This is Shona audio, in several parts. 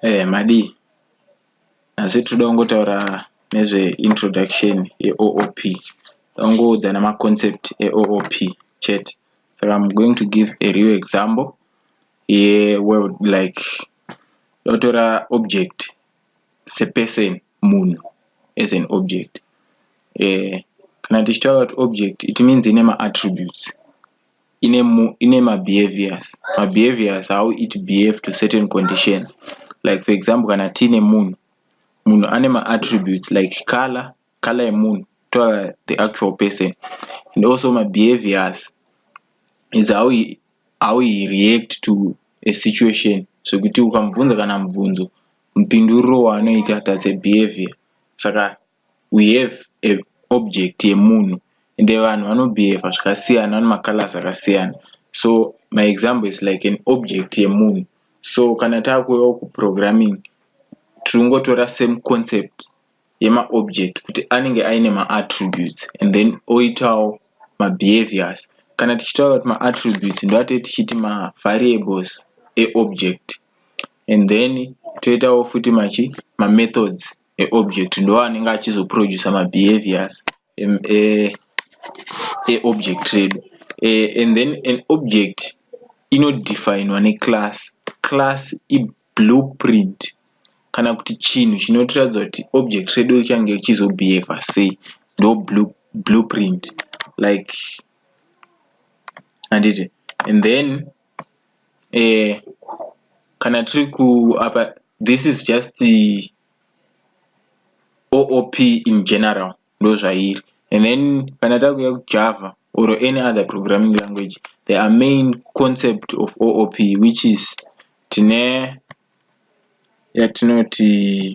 Eh madii nhasi tinoda kungotaura nezve introduction yeOOP tongoudzana maconcept eOOP chete saka I'm going to give a real example yeworld like totora object seperson munhu as an object eh kana tichitaura kuti object it means ine maattributes ine ine mabehaviors mabehaviors how it behave to certain conditions like for example kana tiine munhu munhu ane maattributes like color color yemunhu to the actual person and also mabehaviors is how he, how he react to a situation zvekuti ukamubvunza kana mubvunzo mupinduriro waanoita that's a behavior saka we have a object yemunhu and vanhu vanobehave zvakasiyana vane macolors akasiyana so my example is like an object yemunhu so kana takuuyawo kuprogramming tiringotora same concept yemaobject kuti anenge aine maattributes and then oitawo mabehaviors kana tichitaura kuti maattributes ndoatee tichiti mavariables eobject and then toitawo futi machi mamethods eobject ndo anenge achizoproducer mabehaviors eobject e, e redu e, and then an object inodefinwa neclass class iblueprint kana kuti chinhu chinotiratidza kuti object redu richange richizobehava sei ndo blueprint like handiti and then eh, kana tiri ku apa this is just the oop in general ndozvairi and then kana takuya kujava or any other programming language the are main concept of oop which is tine yatinoti yeah,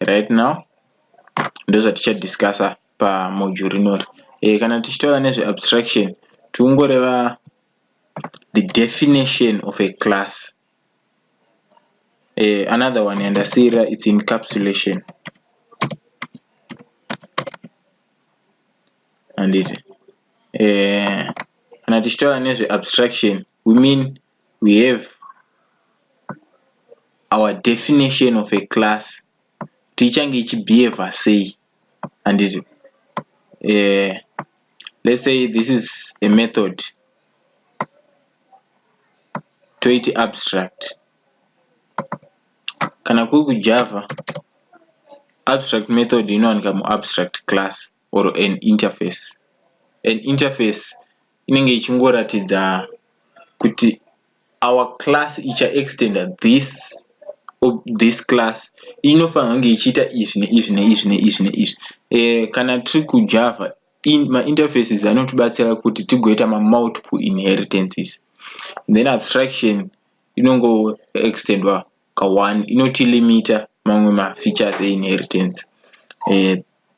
right now ndozvatichadiscasa pamodule rinori e, eh, kana tichitaura nezveabstraction tiungoreva the definition of a class e, another one yandasiira its encapsulation handiti e, eh, kana tichitaura nezveabstraction women we have our definition of a class kuti ichange ichibehavior sei handiti uh, let's say this is a method toiti abstract kana kuri kujava abstract method inowanika muabstract class or an interface an interface inenge ichingoratidza kuti our class icha extenda this this class inofanirwa kunge ichiita izvi neizvi neizvi neizvi neizvi eh, kana tiri kujava in, mainterfaces anotibatsira kuti tigoita mamultiple inheritances then abstraction inongo extendwa ka1 inotilimita mamwe mafeatures einheritance uh,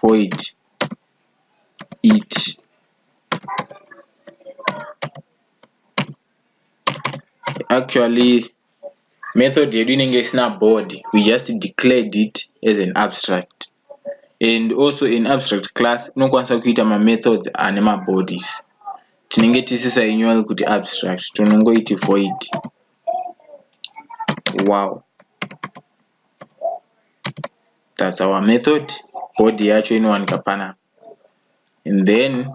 void iti actually method yedu inenge isina board we just declared it as an abstract and also in abstract class unokwanisa kuita mamethods ane mabodies tinenge tisisainyori kuti abstract tonongoiti void wow that's our method body yacho inowanika pana and then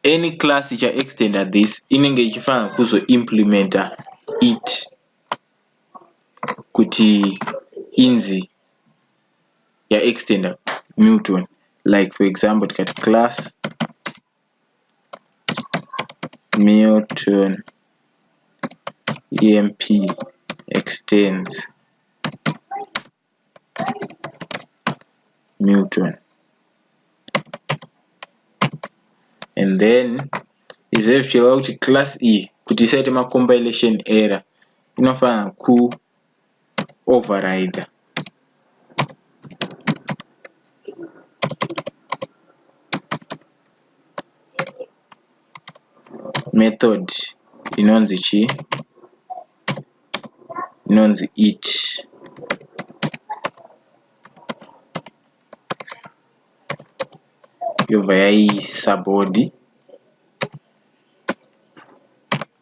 any class icha extenda this inenge ichifanira kuzo implementa it kuti inzi ya extenda newton like for example tikati class Milton EMP extends Milton and then izve zvichireva kuti class iyi e, kuti isaite macompilation error inofanira ku overrider method inonzi chii inonzi it yobva yaisa body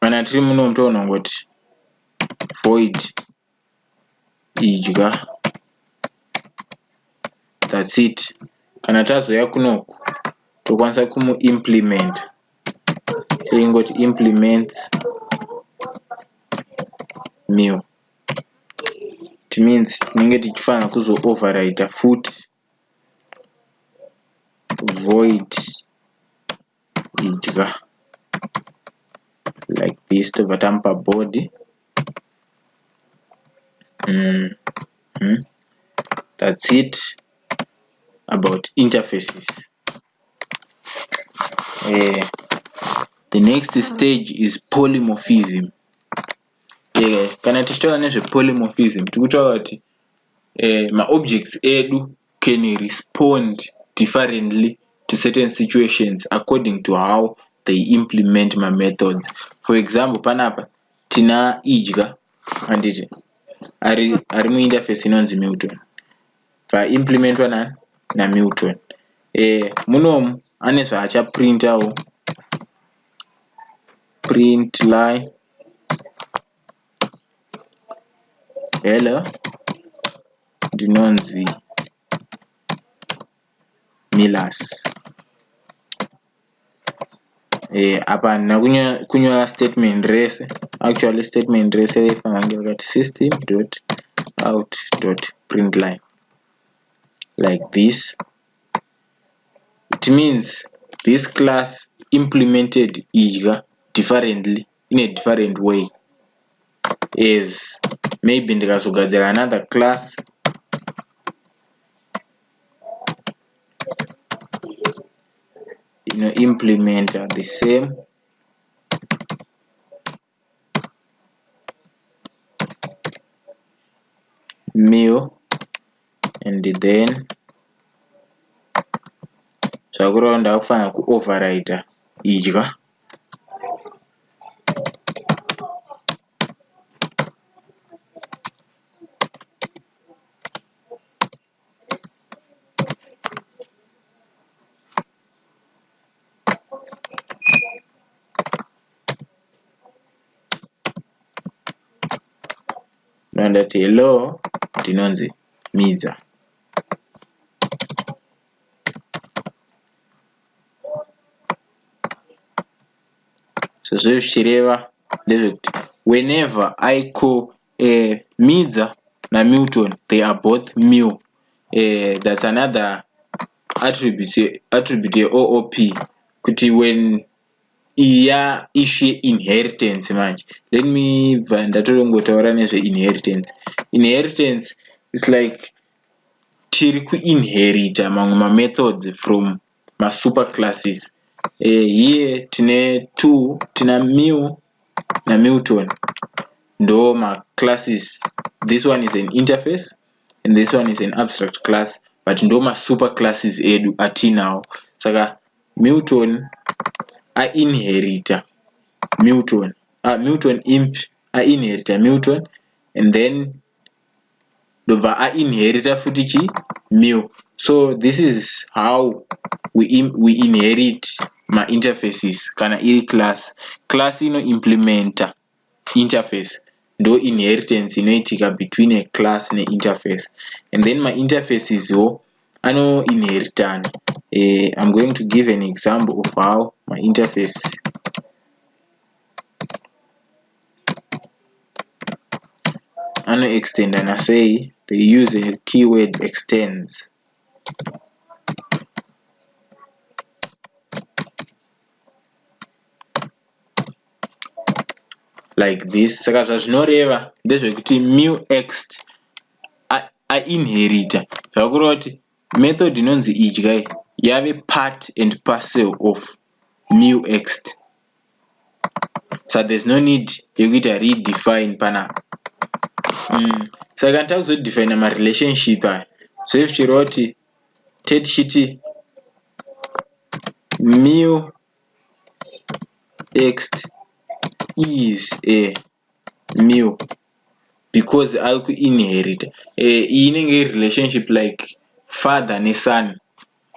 kana tiri muno mutoona ngoti void idya that's it kana tazoya kunoku tokwanisa kumuimplement toingoti implements meal it means tinenge tichifanira kuzooverwriter futi void kudya like this tobva tamupa body mm -hmm. that's it about interfaces uh, the next stage is polymorphism uh, kana tichitaura nezvepolymorphism tikutaura kuti uh, maobjects edu can respond differently to certain situations according to how they implement mamethods for example panapa tina idya handiti ari, ari muinterface inonzi milton vaimplementwa nani namilton e, munomu ane zvaachaprintawo print line hello ndinonzi Milas eh apa handina kunyora statement rese actually statement rese raifanira kunge rakati system dot out dot print line like this it means this class implemented idya differently in a different way as maybe ndikazogadzira another class inoimplementa the same meal and then zvakureva ndakufanira kuoverrida idya ndati hello ndinonzi midza zvazviri zvichireva ndezvekuti whenever i call uh, midza namilton they are both mil uh, eh, that's another attribute attribute yeoop kuti when iya ishu yeinheritance manje let me bva ndatorongotaura nezveinheritance inheritance is like tiri ku inherita mamwe ma methods from ma super classes uh, here tine to tina mew na milton ndo ma classes this one is an interface and this one is an abstract class but ndo ma super classes edu atinawo saka milton a inherita milton uh, milton imp a inherita milton and then ndobva ainherita futi chi mil so this is how we, in, we inherit mainterfaces kana iri class class inoimplementa interface ndo inheritance inoitika between a class neinterface and then mainterfaces wo anoinheritana uh, i'm going to give an example of how mainterface anoextenda nasei they use a keyword extends like this saka zvazvinoreva ndezvekuti mu ext ainherita zvakureva kuti Method inonzi idya iyi yave part and parcel of muext saka there's no need yekuita redefine panapa mm. saka kana takuzodefina marelationship aya zve zvichireva kuti tete tichiti muext is a new because ari kuinherita eh, iyi inenge iri relationship like father neson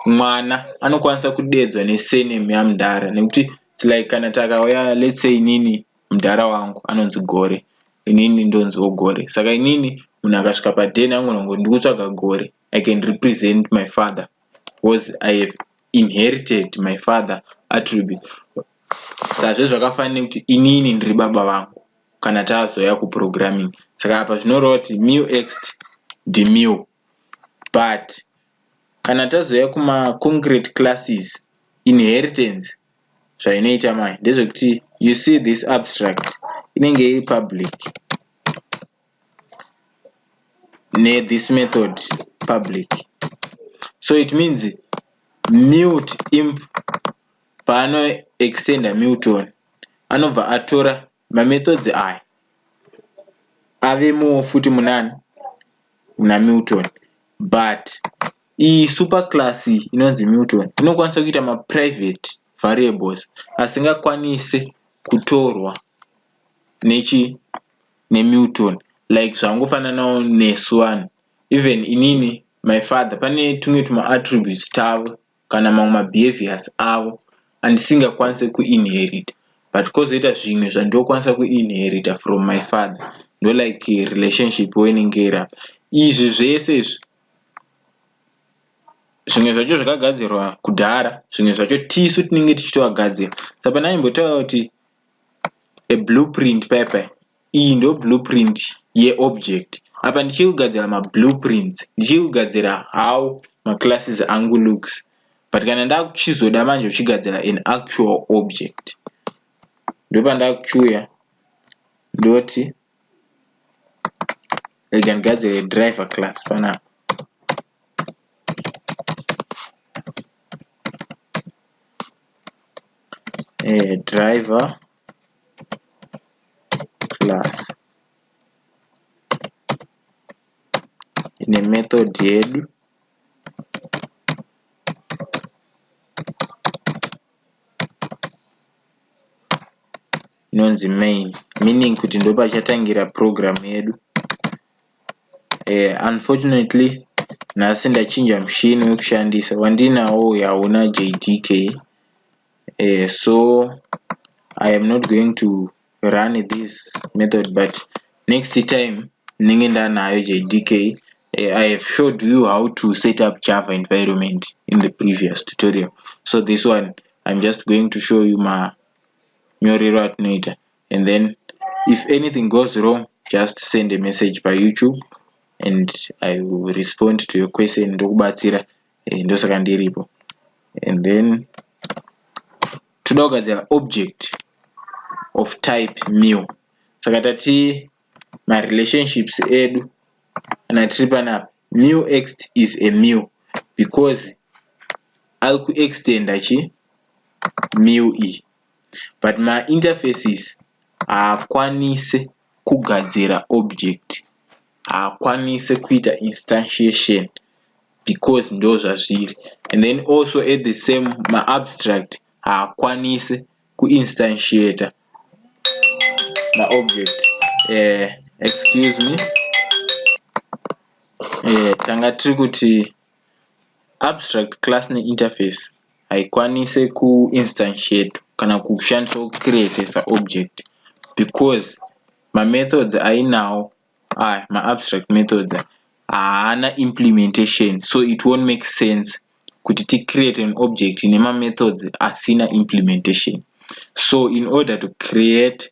mwana anokwanisa kudeedzwa nesename yamudhara nekuti like kana takauya let's say inini mudhara wangu anonzi gore inini ndonziwo gore saka inini munhu akasvika paden angonongo ndikutsvaga gore i can represent my father because i have inherited my father attribute sazve zvakafanira kuti inini ndiri baba vangu kana tazoya kuprogramming saka apa zvinoreva kuti mew ext ndimew but kana tazoya kumaconcrete classes inheritance zvainoita manje ndezvekuti you see this abstract inenge iri public nethis method public so it means mute imp paano extender muton anobva atora mamethods aya avemoo futi munani muna muton but iyi super class inonzi muton inokwanisa kuita maprivate variables asingakwanise kutorwa nechi neMilton like zvangofananawo nesu vanhu even inini my father pane tumwe tumaattributes tavo kana mamwe mabehaviors avo andisingakwanise kuinherita but kozoita zvimwe zvandinokwanisa kuinherita from my father ndolike relationship wenenge iri apa izvi zvese izvi zvimwe zvacho zvakagadzirwa kudhara zvimwe zvacho tisu tinenge tichitovagadzira saka pane aimbotaura kuti a blueprint paipai iyi ndo blueprint yeobject apa ndichiri kugadzira mablueprints ndichiri kugadzira how maclasses angu looks but kana ndakuchizoda manje uchigadzira an actual object ndopandakuchiuya ndoti rega ndigadzire driver class panapa eh, driver class ine method yedu inonzi main meaning kuti ndopachatangira program yedu eh, unfortunately nhasi ndachinja mushini wekushandisa wandinawo uyu hauna jdk eh, so i am not going to run this method but next time ndinenge ndanayo jdk eh, i have showed you how to set up java environment in the previous tutorial so this one i'm just going to show you manyorero atinoita and then if anything goes wrong just send a message pa youtube and i will respond to your question ndokubatsira eh, ndosaka ndiripo and then toda kugadzira object of type meal saka tati marelationships edu kana tiri panapa meal ext is a meal because ari kuextenda chi meal iyi but ma interfaces haakwanise kugadzira object haakwanise kuita instantiation because ndozvazviri and then also at the same ma abstract haakwanise kuinstantiata maobject uh, eh, excuse me uh, tanga tiri kuti abstract class ne interface haikwanise ku instantiate kana kushandiswa ku create sa object because ma methods ainawo aya ma abstract methods haana implementation so it won't make sense kuti ti create an object nema methods asina implementation so in order to create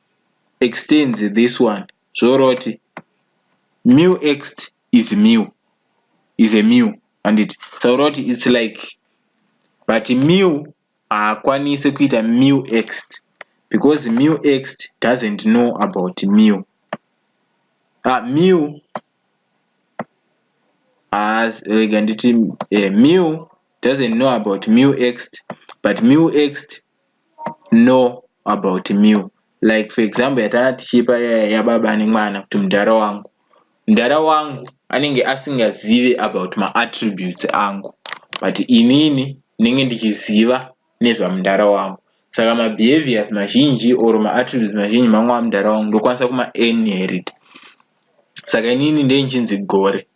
extends this one zvoroti mu ext is mu is a mu handiti saka roti its like but mu haakwanisi kuita mu ext because mu ext doesn't know about mu ah, mu haas rega nditi eh, mu doesn't know about mu ext but mu ext know about mew like for example yatana tichipa yababa nemwana kuti mudhara wangu mudhara wangu anenge asingazive about maattributes angu but inini ndinenge ndichiziva nezvamudhara wangu saka mabehaviors mazhinji or maattributes mazhinji mangu amudhara wangu ndokwanisa kumainherit saka inini ndee nchinzi gore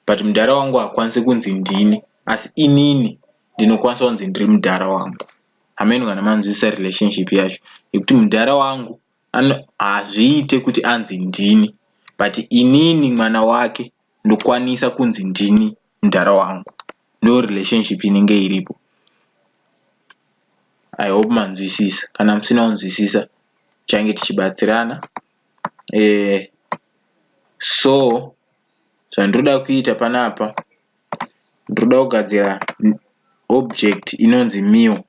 but mudhara wangu hakwanise kunzi ndini asi inini ndinokwanisa kunzi ndiri mudhara wangu hameno kana manzwisisa relationship yacho yekuti mudhara wangu hazviite kuti anzi ndini but inini mwana wake ndokwanisa kunzi ndini mudhara wangu ndo relationship inenge iripo i hope manzwisisa kana musina kunzwisisa change tichibatsirana eh, so zvandiroda kuita panapa ndiroda kugadzira object inonzi meal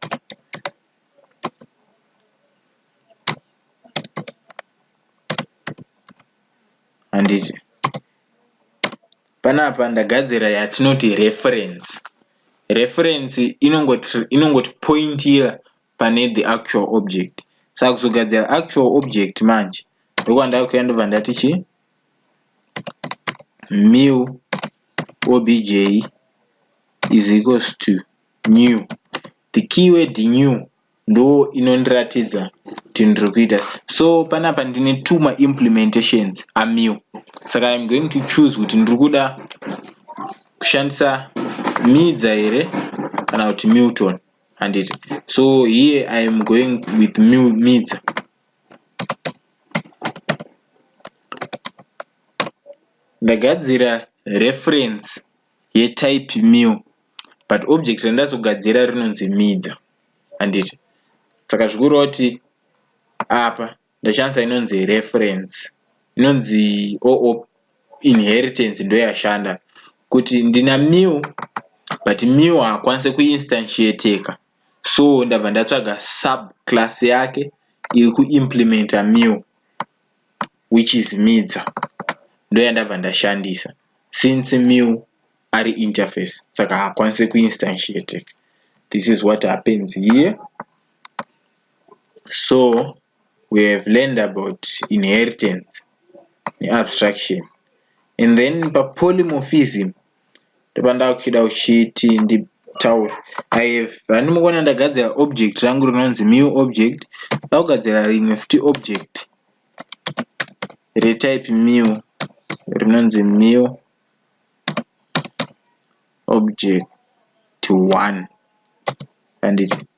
handiti panapa ndagadzira yatinoti reference reference inongotipointira pane the actual object saka kuzogadzira actual object manje ndokwandakuya ndobva ndati chi mil obj is equals to new the keyword new ndo inondiratidza kuti ndiri kuita so panapa ndine two maimplementations amew saka im going to choose kuti ndiri kuda kushandisa midza here kana kuti milton handiti so here i am going with midza ndagadzira reference yetype meal but object randazogadzira rinonzi midza handiti saka zvikureva kuti apa ndashandisa inonzi reference inonzi oo inheritance ndoyashanda kuti ndina mew but mew haakwanise kuinstantiateka so ndabva ndatsvaga subclass yake iri kuimplementa mew which is midza ndoyandabva ndashandisa since mew ari interface saka haakwanise kuinstantiateka this is what happens here So we have learned about inheritance neabstraction and then papolymorphism ndopandava kuchida kuchiti nditaure i have vandimukona ndagadzira object rangu rinonzi new object ndakugadzira rimwe futi object retype new rinonzi new object one handiti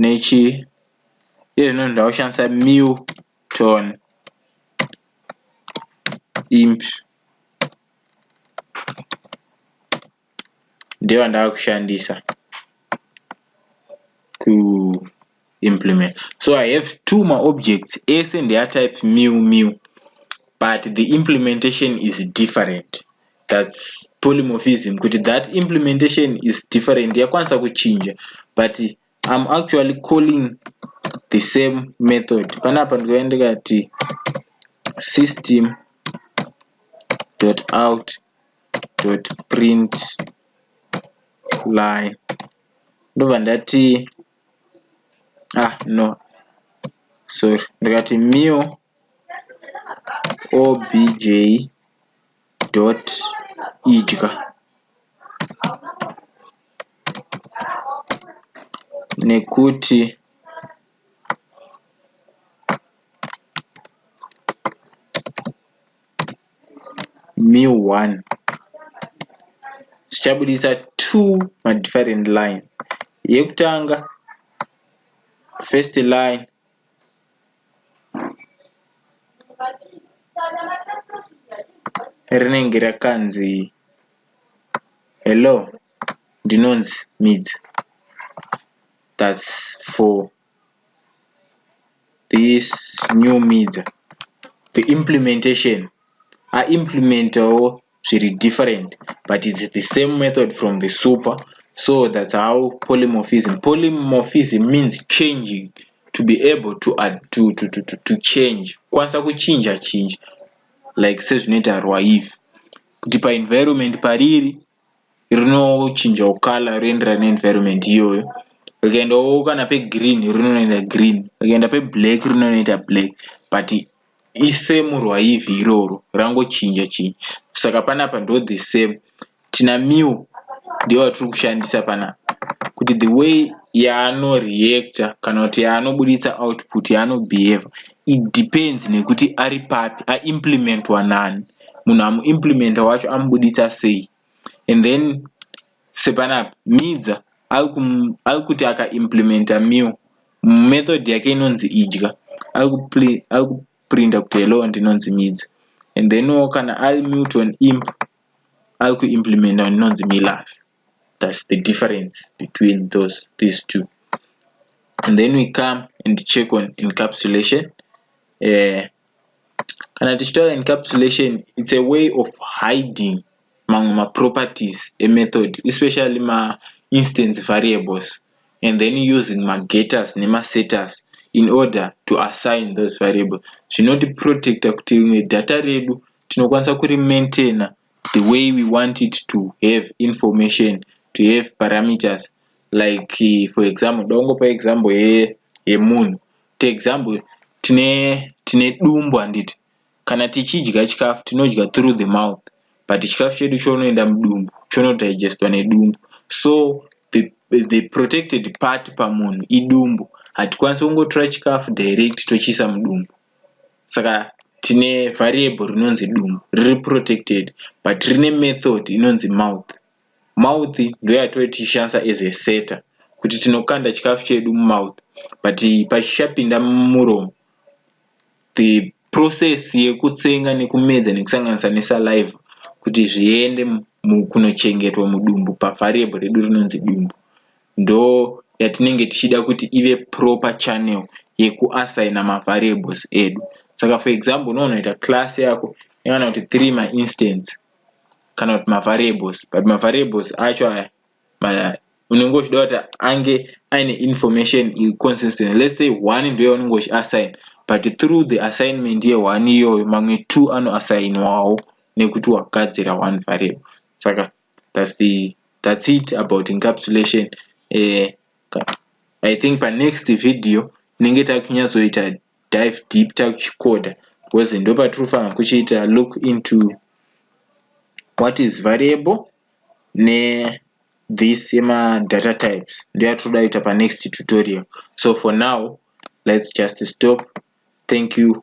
nechi iye zvino ndakushandisa mew tone imp ndiyo ndava kushandisa ku implement so i have two maobjects ese ndeatype mew mew but the implementation is different thats polymorphism kuti that implementation is different yakwanisa kuchinja but im actually calling the same method panapa ndikava ndikati system dot out dot print line ndobva ndati ah no sorry ndikati mio obj dot idya nekuti mu one zvichabudisa two madifferent line yekutanga first line rinenge rakanzi hello ndinonzi midzi that's for this new media the implementation aimplementawo zviri different but its the same method from the super so that's how polymorphism polymorphism means changing to be able to add to to to to, to change kwanisa kuchinja chinja like sezvinoita rwaive kuti paenvironment pariri rinochinjawo color roenderana neenvironment iyoyo rikaendawo kana pegreen rinonoita green rikaenda peblack rinonoita black but isemu rwaivhi iroro rangochinja chinja saka panapa ndo the same tina mew ndiyo vatiri kushandisa panapa kuti the way yaanoreacta kana kuti yaanobuditsa output yaanobehavha It depends nekuti ari papi aimplementwa nani munhu amuimplementa wacho amubuditsa sei and then sepanapa midza ari kuti akaimplementa meal method yake inonzi idya ari kuprinta kuti hello ndinonzi midza and then wo kana ari milton imp ari kuimplementa kuti inonzi milas that's the difference between those these two and then we come and check on encapsulation uh, kana tichitaura encapsulation it's a way of hiding mamwe maproperties emethod especially mainstance variables and then using magators nemasetters in order to assign those variables zvinotiprotecta kuti rimwe data redu tinokwanisa kurimaintainer the way we want it to have information to have parameters like eh, for example ndongopa example yemunhu to example tine tine dumbu handiti kana tichidya chikafu tinodya through the mouth but chikafu chedu chonoenda mudumbu chonodigestwa nedumbu so the, the protected part pamunhu idumbu hatikwanisi kungotora chikafu direct tochiisa mudumbu saka tine variable rinonzi dumbu riri protected but rine method inonzi mouth mouth ndoyatove tichishandisa as a setter kuti tinokanda chikafu chedu mumouth but pachichapinda mumuromo the process yekutsenga nekumedza nekusanganisa nesaliva kuti zviende kunochengetwa mudumbu pavariable redu rinonzi dumbu ndo yatinenge tichida kuti ive proper channel yekuassigner mavariables edu saka for example unonoita class yako yakana kuti three mainstance kana kuti mavariables but mavariables acho aya unenge uchida kuti ange aine information consistent let's say one ndiyo unenge uchiassign but through the assignment yeone iyoyo mamwe two anoassignwawo nekuti wagadzira one variable saka that's the that's it about encapsulation uh, i think panext video tinenge takunyatsoita dive deep takuchikoda because ndo patiri kufanira kuchiita look into what is variable ne this ema data types ndoyatinoda kuita panext tutorial so for now let's just stop thank you